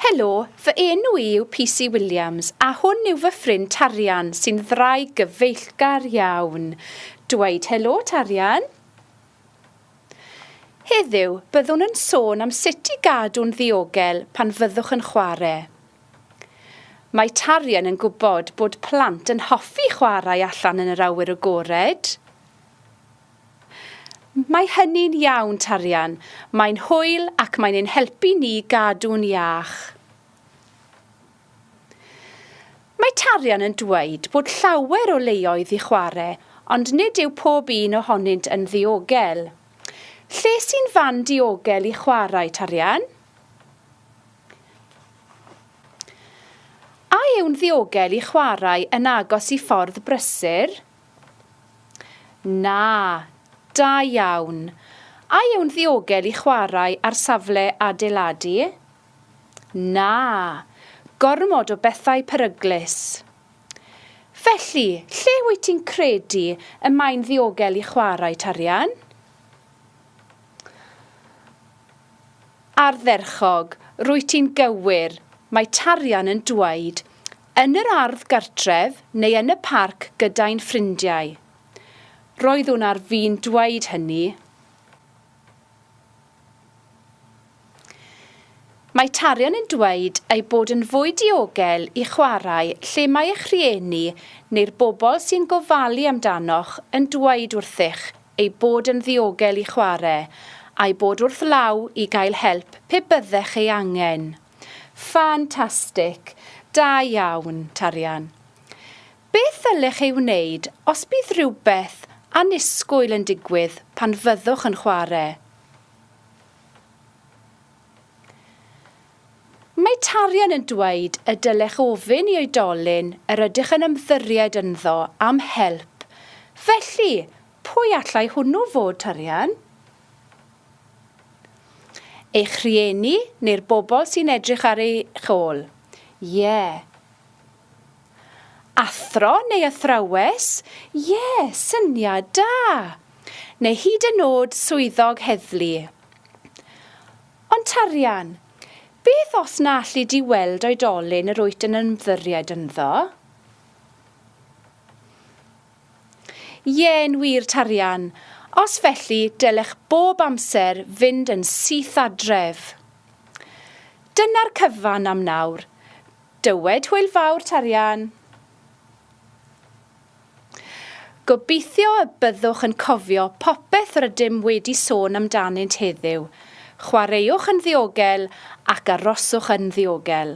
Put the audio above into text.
Helo, fy enw i yw PC Williams a hwn yw fy ffrind Tarian sy'n ddraig gyfeillgar iawn. Dweud helo, Tarian. Heddiw, byddwn yn sôn am sut i gadw'n ddiogel pan fyddwch yn chwarae. Mae Tarian yn gwybod bod plant yn hoffi chwarae allan yn yr awyr agored. Mae hynny'n iawn, Tarian. Mae'n hwyl ac mae'n ein helpu ni gadw'n iach. Mae tarian yn dweud bod llawer o leoedd i chwarae, ond nid yw pob un ohonynt yn ddiogel. Lle sy'n fan diogel i chwarae tarian? A yw'n ddiogel i chwarae yn agos i ffordd brysur? Na. Da iawn. A yw'n ddiogel i chwarae ar safle adeiladu? Na! Gormod o bethau peryglus. Felly, lle wyt ti'n credu y mae'n ddiogel i chwarae tarian? Ardderchog, rwyt ti'n gywir, mae tarian yn dweud, yn yr ardd gartref neu yn y parc gyda'n ffrindiau. Roeddwn ar fin dweud hynny. Mae tarion yn dweud eu bod yn fwy diogel i chwarae lle mae eich rhieni neu'r bobl sy'n gofalu amdanoch yn dweud wrthych eu bod yn ddiogel i chwarae, a'u bod wrth law i gael help pe byddech ei angen. Ffantastig! Da iawn, Tarian. Beth ddylech ei wneud os bydd rhywbeth annisgwyl yn digwydd pan fyddwch yn chwarae? Mae tarian yn dweud y dylech ofyn i oedolyn yr ydych yn ymddyried ynddo am help, felly pwy allai hwnnw fod, tarian? Eich rhieni neu'r bobl sy'n edrych ar eich ôl? Ie. Athro neu athrawes? Ie, syniad da! Neu hyd yn nod swyddog heddlu. Ond tarian, beth os na alli di weld oedolyn yr wyt yn ymddiried ynddo? Ie'n wir tarian, os felly dylech bob amser fynd yn syth adref. Dyna'r cyfan am nawr. Dywed hwyl fawr tarian. Gobeithio y byddwch yn cofio popeth rydym wedi sôn amdanynt heddiw. Chwaraewch yn ddiogel ac aroswch yn ddiogel.